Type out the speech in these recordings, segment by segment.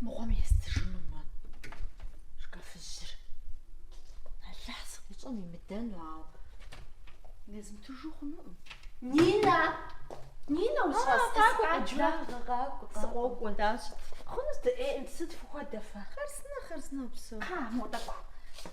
мыгъуэм естыжыну мы шкафыжьыр. Алыхь сыкъищӏэм имыдэну, ауэ езмытыжу хъунукъым. Нинэ! Нинэ ущӏэс? Сыкъокӏуэ дащ. Хъунущ дыӏейӏым, сыт фыхуэдэ фэ? Хъарзынэ, хъарзынэ упсэу. Хьа, мо тӏэкӏу.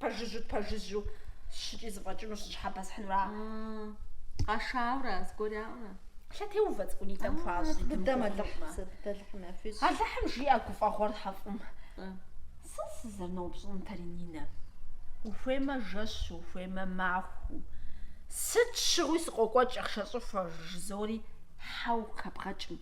Пэжыжьу, пэжыжьу щыкӏи зыфӏэкӏыну щыщхьэбэсхьынура? Къашаура, зыгуэраура? Лъэтеувэ цӏыкӏунитӏэм хуащӏ зи дыдэм Алыхь. Алыхьым жиӏэ гуфӏэгъуэр хьэфӏым. Сэ сызэрыноупщӏынтэри Нинэ. Ухуеймэ жэщу, ухуеймэ махуэу. Сыт щыгъуи сыкъокӏуэ икӏи ахъшэ щӏыхуэ, жызори хьэу къыхэбгъэкӏкъым.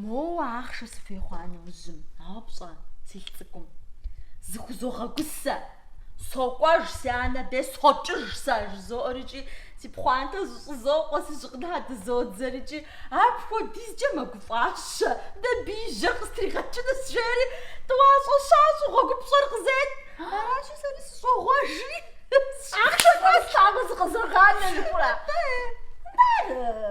Моуэ ахъшэ сыхуей хъуа нэужьым, ауэ пщӏэ, си лӏы цӏыкӏум, зыхузогъэгусэ, сокӏуэж, си анэ дей сокӏыж сэ, жызоӏэр икӏи си пхъуантэр зэщӏызокъуэ, си щыгъынхэр дызодзэр икӏи апхуэдизкӏэ мэгуфӏэщи, дэ бийжьыр къыстригъэкӏынущ, жери тӏуащӏэ щащӏэу гъуэгупщӏэр къызет. Аращи, сэри сыщӏогъуэжри. Ахъшэр кӏуэ слъагъуу зыкъызогъанэ жыхура? Ары.